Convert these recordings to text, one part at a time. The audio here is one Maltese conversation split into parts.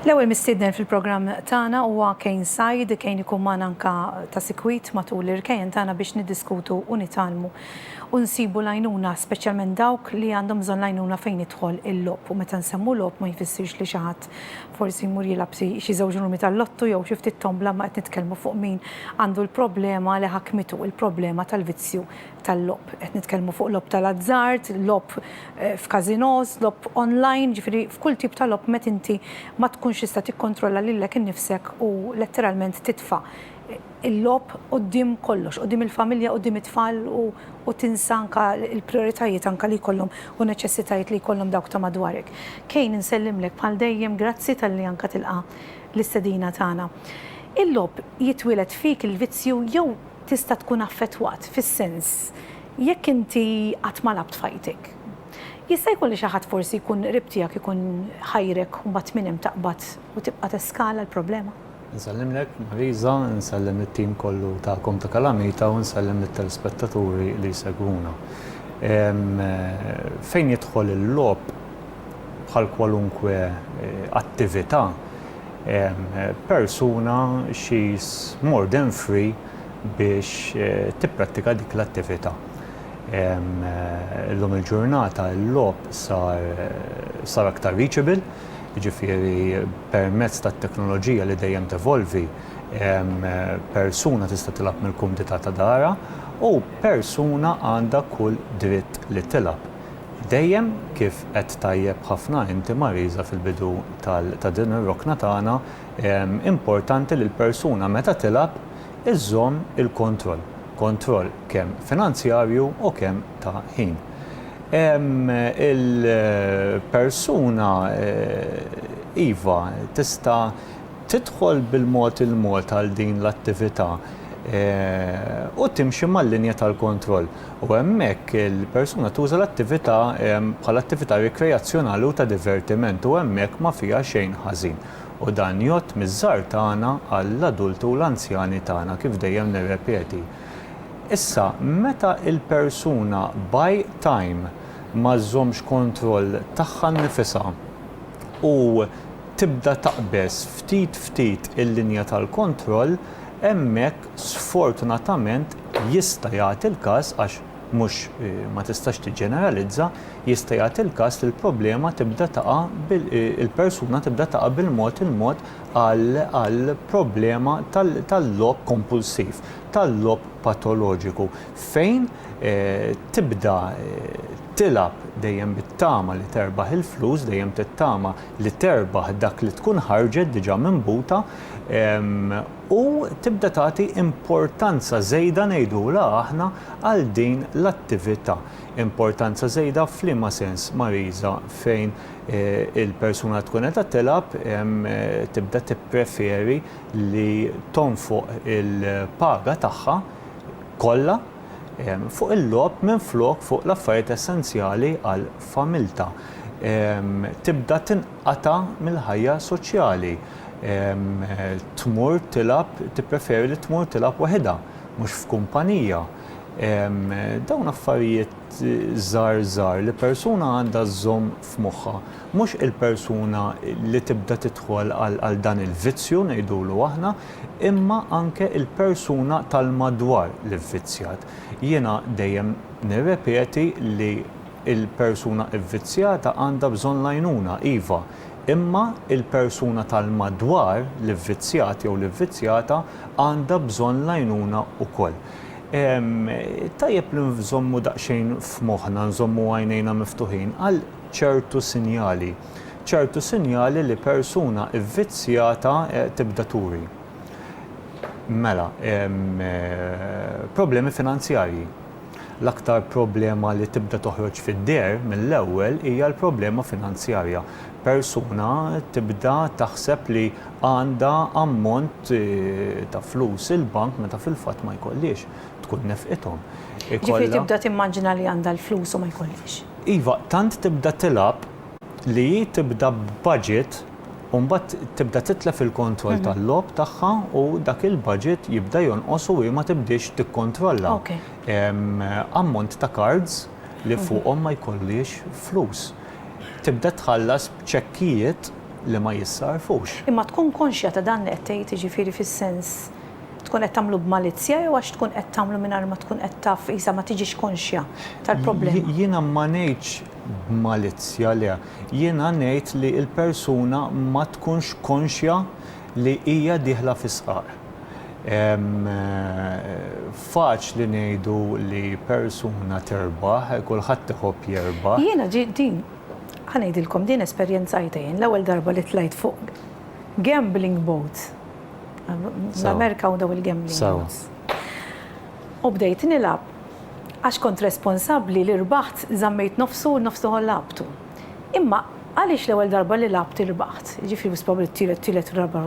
L-ewwel mistiednen fil-programm tagħna huwa Kane Said, Kane ikun magħna anka ta' sikwit matul l-irkejjen tagħna biex niddiskutu u nitalmu u nsibu lajnuna speċjalment dawk li għandhom bżonn lajnuna fejn idħol il-lob u meta nsemmu lob ma jfissirx li xi ħadd ħadd forsi jmur jilgħab xi xi żewġ rumi tal-lottu jew xi ftit tombla imma qed nitkellmu fuq min għandu l-problema li ħakmitu, il-problema tal-vizzju tal-logħob. Qed nitkellmu fuq logħob tal-azzard, logħob f'casinos, logħob online, jiġifieri f'kull tip ta' logħob met inti ma tkunx tista' tikkontrolla lilek innifsek u letteralment titfa' il-logħob quddiem kollox, quddiem il-familja, quddiem it-tfal u tinsa anke l-prijoritajiet anke li jkollhom u neċessitajiet li jkollhom dawk ta' madwarek. Kane insellimlek bħal dejjem grazzi talli anke tilqa' l-istedina tagħna. Il-logħob jitwieled fik il-vizzju jew tista' tkun affettwat fis-sens jekk inti qatt ma lgħabt f'ħajtek? Jista' jkun li xi ħadd forsi jkun qrib tiegħek ikun ħajrek u mbagħad minn hemm taqbad u tibqa' teskala l-problema? Insellimlek Marisa, insellem lit-tim kollu tagħkom ta' Kalamita u nsellem lit-telespettaturi li jsegwuna. Fejn jidħol il-logħob, bħal kwalunkwe attività, persuna she is more than free biex tipprattika dik l-attività. Illum il-ġurnata l-logħob sar aktar reachable. jiġifieri permezz tat-teknoloġija li dejjem tevolvi, persuna tista' tilgħab mill-kumdità ta' darha u persuna għandha kull dritt li tilgħab. Dejjem, kif għedt tajjeb ħafna inti Marisa fil-bidu ta' din ir-rokna tagħna, importanti li l-persuna meta tilgħab iżżomm il-kontroll, kontroll kemm finanzjarju u kemm ta' ħin. il-persuna iva tista' tidħol bil-mod il-mod għal din l-attività u timxi mal-linja tal-kontroll u hemmhekk il-persuna tuża l-attività bħala attività rikreazzjonali u ta' divertiment u hemmhekk ma fiha xejn ħażin u dan jgħodd miż-żgħar tagħna għall-adulti u l-anzjani tagħna kif dejjem nirrepeti. Issa, meta l-persuna by time ma żżommx kontroll tagħha nnifisha u tibda taqbeż ftit ftit il-linja tal-kontroll, hemmhekk sfortunatament jista' jagħti l-każ, għax mhux ma tistax tiġġeneralizza, jista' jagħti l-każ li l-problema tibda taqa' il-persuna tibda taqa' bil-mod il-mod għal problema tal-logħob kompulsiv, tal-logħob patoloġiku, fejn tibda tilgħab dejjem bit-tama li terbaħ il-flus, dejjem tittama li terbaħ dak li tkun ħarġet diġà minn buta, u tibda tagħti importanza żejda ngħidulha aħna għal din l-attività. Importanza żejda f'liema sens, Mariża, fejn il-persuna tkun qed tilgħab tibda tippreferi li tonfoq il-paga tagħha kollha fuq il-logħob minflok fuq l-affarijiet essenzjali għal familtha. Tibda tinqata' mill-ħajja soċjali. Tmur tilgħab, tippreferi li tmur tilgħab waħidha, mhux f'kumpanija. Dawn affarijiet. żgħar żgħar li persuna għandha żżomm f'moħħha, mhux il-persuna li tibda tidħol għal dan il-vizzju ngħidulu aħna, imma anke il-persuna tal-madwar li vvizzjat. Jiena dejjem nirrepeti li il-persuna vvizzjata għandha bżonn l-għajnuna, iva, imma il-persuna tal-madwar li vvizzjat jew li vvizzjata għandha bżonn l-għajnuna ukoll. Tajjeb li nżommu daqsxejn f'moħħna, nżommu għajnejna miftuħin għal ċertu sinjali, ċertu sinjali li persuna vvizzjata tibda turi. Mela, problemi finanzjarji. L-aktar problema li tibda toħroġ fid-deher mill-ewwel hija l-problema finanzjarja. persuna tibda taħseb li għandha ammont ta' flus il-bank meta fil-fatt ma jkollhiex, tkun nefqithom. Jiġifieri tibda timmaġina li għandha l-flus u ma jkollhiex. Iva, tant tibda tilgħab li hi tibda b'budget u mbagħad tibda titlef il-kontroll tal-logħob tagħha u dak il-budget jibda jonqos u hi ma tibdiex tikkontrolla. Ammont ta' cards. li fuqhom ma jkollhiex flus. Tibda tħallas b'ċekkijiet li ma jissarrfux. Imma tkun konxja ta' dan li qed tgħid, jiġifieri fis-sens tkun qed tagħmlu b'malizzja jew għax tkun qed tagħmlu mingħajr ma tkun qed taf qisha ma tiġix konxja tal-problema? Jiena ma ngħidx b'malizzja le. Jiena ngħid li l-persuna ma tkunx konxja li hija dieħla fis-sqar. Faċli ngħidu li persuna tirbaħ, kulħadd iħobb jirbaħ. Jiena ġi din, ħa ngħidilkom, din esperjenzajtha jien l-ewwel darba li tlajt fuq gambling boat. L-Amerika hawn dawn il-gambling boats. U bdejt nilgħab, għax kont responsabbli li rbaħt żammejt nofsu u n-nofs l-oħor lagħabtu. Imma għaliex l-ewwel darba li lagħabt irbaħt, jiġifieri wis probabbli t-tielet tielet u raba'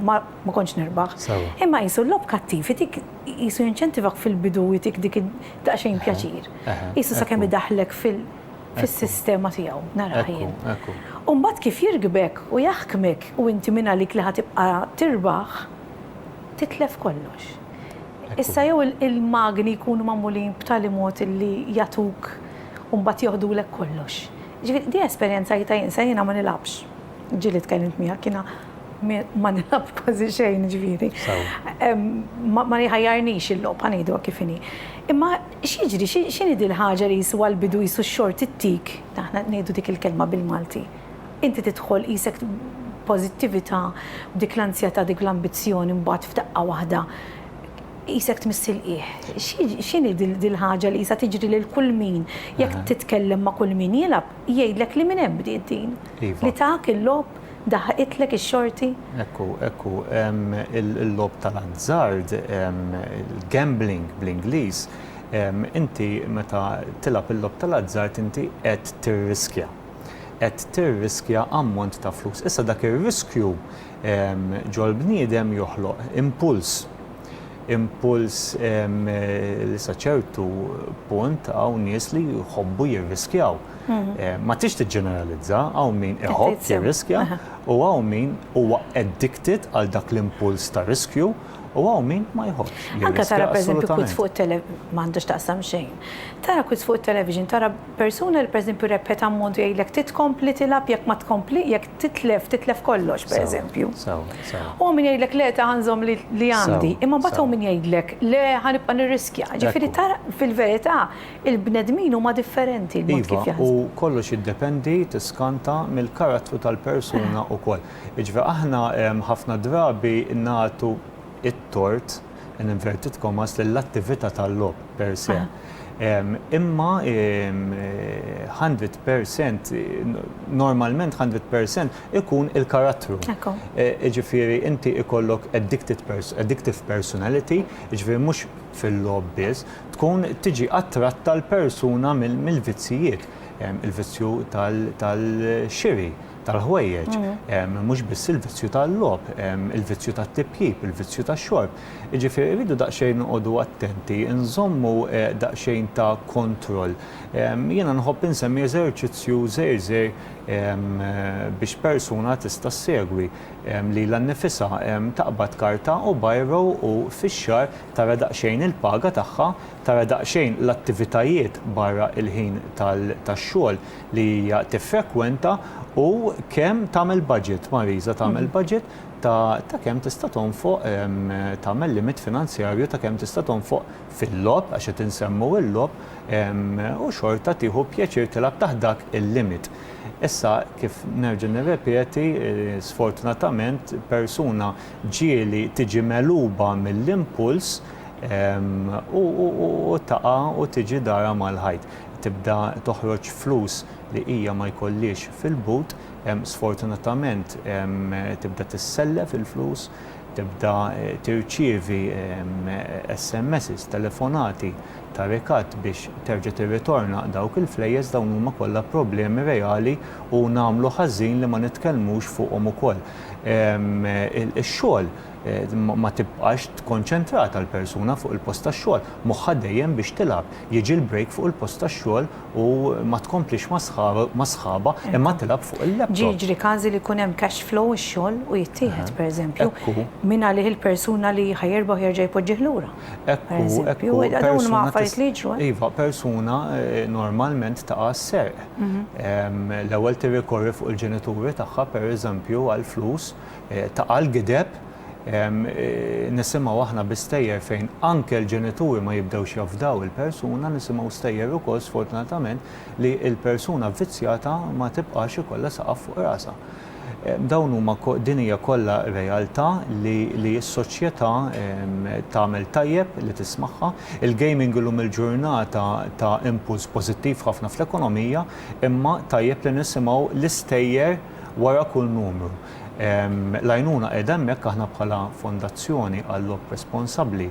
ma ma kontx nirbaħ. Sewwa. Imma qisu l-logħob kattiv itik qisu jinċentivak fil-bidu u jtik dik id daqsxejn pjaċir. Eħe. Qisu sakemm idaħħlek fil fis-sistema tiegħu, narah jien. Ekku, ekku. U mbagħad kif jirkbek u jaħkmek u inti minn għalik li ħa tibqa' tirbaħ, titlef kollox. Issa jew il-magni jkunu magħmulin b'tali mod illi jagħtuk u mbagħad joħdulek kollox. Jiġifieri din esperjenza għidtha jien, se jiena ma nilgħabx. Ġieli tkellimt miegħek, jiena ma nilgħabx kważi xejn jiġifieri. Ma jħajjarnix il-logħob, ħa ngħiduha kif inhi. Imma x'jiġri, x'inhi din il-ħaġa li jiswa l-bidu qisu x-xorti ttik, aħna ngħidu dik il-kelma bil-Malti. Inti tidħol qisek b'pożittività b'dik l-anzjetà dik l-ambizzjoni mbagħad f'daqqa waħda qisek tmiss il-qiegħ. X'inhi dil-ħaġa li qisha tiġri lil kull min jekk titkellem ma' kull min jilgħab jgħidlek li minn hemm bdiet din. Li tak il-logħob daħħqitlek ix-xorti. Hekk hu, hekk hu. Il-logħob tal-azzard, il-gambling bl-Ingliż, inti meta tilgħab il-logħob tal-azzard inti qed tirriskja. qed tirriskja ammont ta' flus. Issa dak ir-riskju ġol-bniedem joħloq impuls. Impuls li sa ċertu punt hawn nies li jħobbu jirriskjaw. Mhm. Ma tix tiġġeneralizza, hawn min iħobb jirriskja u hawn min huwa addicted għal dak l-impuls ta' riskju u hawn min ma jħobbx. Anka tara pereżempju kwiz fuq il-television, m'għandux taqsam xejn. Tara kwiz fuq il-television, tara Persuna li pereżempju rebħet ammont u jgħidlek trid tkompli tilgħab jekk ma tkompli jekk titlef titlef kollox pereżempju. U hawn min jgħidlek le ta' ħa nżomm li għandi. Imma mbagħad hawn min jgħidlek le ħa nibqa' nirriskja. Ġifieri tara fil-verità il-bnedmin huma differenti l-mod kif jaħsbu. Iva, u kollox jiddependi tiskanta mill-karattru tal-persuna wkoll. Jiġifieri aħna ħafna drabi nagħtu it-tort, in inverted commas, lill-attività tal-logħob per se. Imma 100% normalment 100% ikun il-karattru. Jiġifieri inti ikollok addictive personality, jiġifieri mhux fil-logħob biss, tkun tiġi attratta l-persuna mill-vizzijiet, il-vizzju tal-xiri, tal-ħwejjeġ, mhux biss il-vizzju tal-logħob, il-vizzju tat-tipjip, il-vizzju tax-xorb. Jiġifieri rridu daqsxejn noqogħdu attenti, inżommu daqsxejn ta' kontroll. Jiena nħobb insemmi eżerċizzju żgħir żgħir biex persuna tista' ssegwi. Lilha nnifisha taqbad karta u biro u fix-xahar tara daqsxejn il-paga tagħha tara daqsxejn l-attivitajiet barra l-ħin tax-xogħol li hija tiffrekwenta u kemm tagħmel budget, Marisa tagħmel budget ta' ta' kemm tista' tonfoq tagħmel limit finanzjarju ta' kemm tista' tonfoq fil-logħob għax qed insemmu l-logħob u xorta tieħu pjaċir tilgħab taħt dak il-limit. Issa kif nerġa' nirrepeti sfortunatament persuna ġieli tiġi megħluba mill-impuls u taqa' u tiġi darha mal-ħajt. Tibda toħroġ flus li hija ma jkollhiex fil-but, sfortunatament tibda tissellef il-flus, tibda tirċievi SMSs, telefonati ta' rikatt biex terġa' tirritorna dawk il-flejjes, dawn huma kollha problemi reali u nagħmlu ħażin li ma nitkellmux fuqhom ukoll. Ix-xogħol. ma tibqax tkonċentrata l-persuna fuq il-post tax-xogħol, moħħha dejjem biex tilgħab. Jiġi l-break fuq il-post tax-xogħol u ma tkomplix ma' sħabha imma tilgħab fuq il-laptop. Jiġri każi li jkun hemm cash flow ix-xogħol u jittieħed, pereżempju, mingħalih il-persuna li ħa jirbaħ jerġa' jpoġġih lura. Ekku, ekku. Dawn huma affarijiet li jiġru. Iva, persuna normalment taqa' s-serq. L-ewwel tirrikorri fuq il-ġenituri tagħha, pereżempju, għall-flus, ta' għal gideb, nisimgħu aħna bi stejjer fejn anke l-ġenituri ma jibdewx jafdaw il-persuna, nisimgħu stejjer ukoll sfortunatament li l-persuna vvizzjata ma tibqax ikollha saqaf fuq rasha. Dawn huma din hija kollha realtà li li s-soċjetà tagħmel tajjeb li tismagħha. Il-gaming illum il-ġurnata ta impuls pożittiv ħafna fl-ekonomija imma tajjeb li nisimgħu l-istejjer wara kull numru. L-għajnuna qiegħda hemmhekk aħna bħala Fondazzjoni għal-Logħob Responsabbli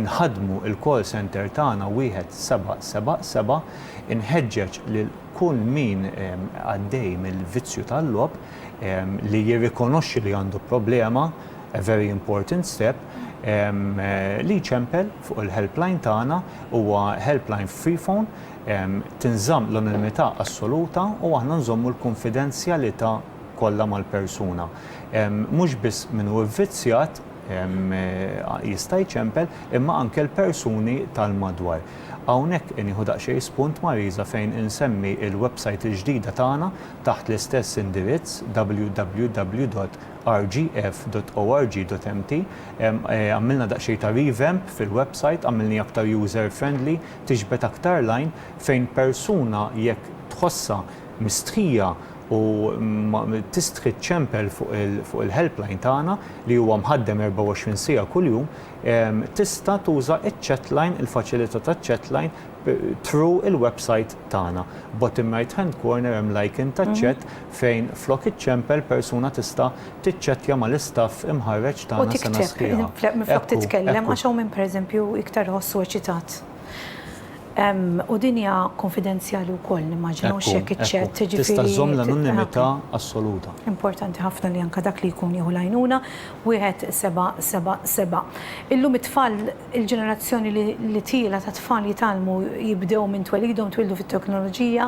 nħaddmu l-call centre tagħna wieħed seba' seba' seba'. Inħeġġeġ lil kull min għaddej mill-vizzju tal-logħob li jirrikonoxxi li għandu problema, a very important step, li jċempel fuq il-helpline tagħna, huwa helpline free phone, tinżamm l-anonimità assoluta u aħna nżommu l-kunfidenzjalità. kollha mal-persuna. Mhux biss min hu vvizzjat jista' jċempel imma anke l-persuni tal-madwar. Hawnhekk nieħu daqsxejn spunt Marisa fejn insemmi l-website il-ġdida tagħna taħt l-istess indirizz www.rgf.org.mt. Għamilna daqsxejn ta' revamp fil-website, għamilniha aktar user friendly, tiġbed aktar l-għajn fejn persuna jekk tħossha mistħija u tistħi ċċempel fuq il-helpline tagħna li huwa mħaddem 24 siegħa kuljum, tista' tuża ċ-chatline, il-faċilità taċ-chatline through il-website tagħna. Bottom right hand corner hemm l-icon taċ-chat fejn flok iċċempel persuna tista' tiċċettja mal-istaff imħarreġ tagħna sena sħiħa. U tikteb minflok titkellem għax hawn min pereżempju iktar iħossu eċitat. U din hija kunfidenzjali wkoll nimmaġina għax hekk iċ-chat, jiġifieri. Ekku, tista' żżomm l-anonimità assoluta. Importanti ħafna li anke dak li jkun jieħu l-għajnuna. 1777. Illum it-tfal, il-ġenerazzjoni li tiela' ta' tfal jitgħallmu jibdew minn twelidhom, twieldu fit-teknoloġija,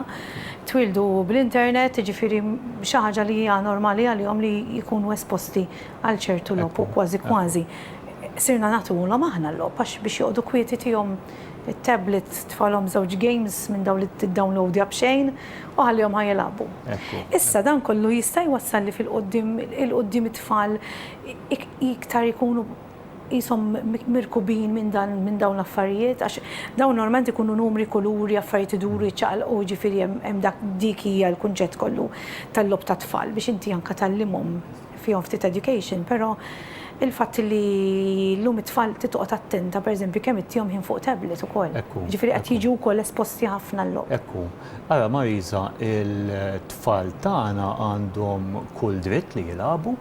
twieldu bl-internet, jiġifieri xi ħaġa li hija normali għalihom li jkunu esposti għal ċertu logħob u kważi kważi sirna nagħtuhulhom aħna l-logħob għax biex joqogħdu kwieti tihom. it-tablet tfalhom żewġ games minn dawn li tiddownloadja b'xejn u ħallihom ħa jilagħbu. Issa dan kollu jista' jwassal li fil-quddiem il-quddiem it-tfal iktar ikunu qishom mirkubin minn dan minn dawn l-affarijiet għax dawn normalment ikunu numri, kuluri, affarijiet iduru jiċċaqalqu jiġifieri hemm hemm dak dik hija l-kunċett kollu tal-logħob tat-tfal biex inti anke tgħallimhom. fihom ftit education, però il-fatt li llum it-tfal trid toqgħod attenta pereżempju kemm ittihom ħin fuq tablet ukoll. Hekk hu. Jiġifieri qed jiġu wkoll esposti ħafna għal-logħob. Hekk hu. Ara Marisa, it-tfal tagħna għandhom kull dritt li jilagħbu,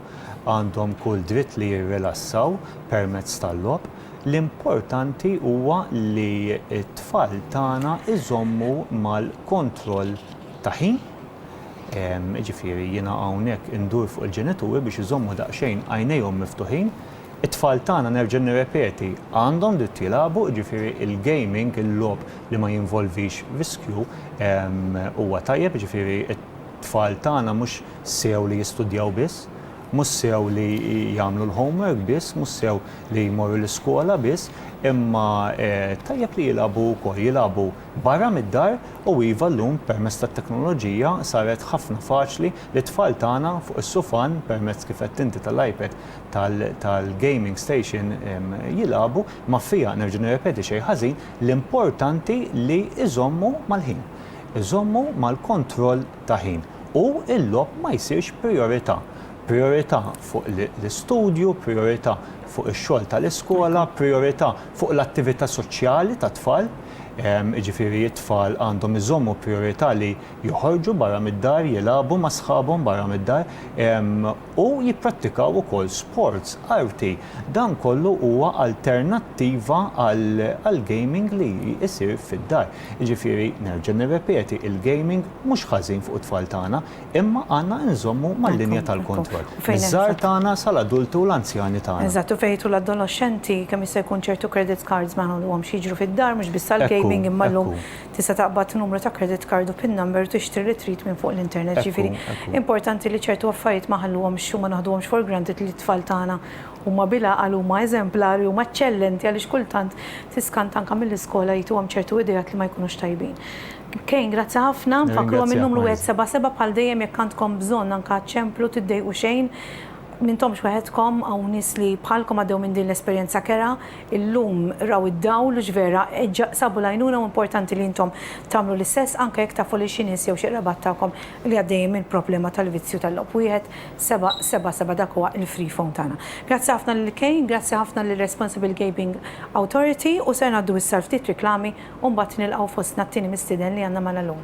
għandhom kull dritt li jirrilassaw permezz tal-logħob. L-importanti huwa li t-tfal tagħna jżommu mal-kontroll ta' ħin, Jiġifieri jiena hawnhekk indur fuq il-ġenituri biex iżommu daqsxejn għajnejhom miftuħin. It-tfal tagħna, nerġa' nirrepeti, għandhom dritt jilagħbu, jiġifieri l-gaming, il-logħob li ma jinvolvix riskju huwa tajjeb, jiġifieri t-tfal tagħna mhux sew li jistudjaw biss, mhux sew li jagħmlu l-homework biss, mhux sew li jmorru l-iskola biss, imma tajjeb li jilagħbu wkoll, jilagħbu. Barra mid-dar, u iva llum permezz tat-teknoloġija saret ħafna faċli li t-tfal tagħna fuq is-sufan permezz kif għedt inti tal-iPad tal-gaming station jilagħbu, ma fiha nerġa' nirrepeti xejn ħażin, l-importanti li iżommu mal-ħin. Iżommu mal-kontroll ta' ħin u l-logħob ma jsirx prijorità. Prijorità fuq l-istudju, prijorità fuq ix-xogħol tal-iskola, prijorità fuq l-attività soċjali tat-tfal. Jiġifieri t-tfal għandhom iżommu prijorità li joħorġu barra mid-dar, jilagħbu ma' sħabhom barra mid-dar u jipprattikaw ukoll sports, arti. Dan kollu huwa alternattiva għall-gaming li jsir fid-dar. Jiġifieri nerġa' nirrepeti, il-gaming mhux ħażin fuq it-tfal tagħna. Imma għandna inżommu mal-linja tal-kontroll, miż-żgħar tagħna sal-adulti u l-anzjani tagħna. Eżatt, u fejn jidħlu l-adoloxxenti, kemm jista' jkun ċertu credit cards ma nħalluhomx jiġru fid-dar, mhux biss għall-gaming imma llum tista' taqbad numru ta' credit card u pin number u tixtri li trid minn fuq l-internet. Jiġifieri importanti li ċertu affarijiet ma nħalluhomx u ma naħduhomx for granted li t-tfal tagħna huma bil-għaqal, huma eżemplari, huma eċċellenti għaliex kultant tiskanta anke mill-iskola jtuhom ċertu ideat li ma jkunux tajbin. Kane, grazzi ħafna. Nfakkruhom in-numru wieħed seba' seba' bħal dejjem jekk għandkom bżonn anke ċemplu tiddejqu xejn. M'intomx weħedkom hawn nies li bħalkom għaddew minn din l-esperjenza kerha. Illum raw id-dawl u x'vera sabu l-għajnuna u importanti li intom tagħmlu l-istess anke jekk tafu lil xi nies jew xi qrabat tagħkom li għaddejjin mill-problema tal-vizzju tal-logħob. Wieħed seba' seba' seba' dak huwa l-free phone tagħna. Grazzi ħafna lil Kane, grazzi ħafna lir-Responsible Gabing Authority u ser ngħaddu issa għal ftit riklami. u mbagħad nilqgħu fostna t-tieni mistieden li għandna magħna llum.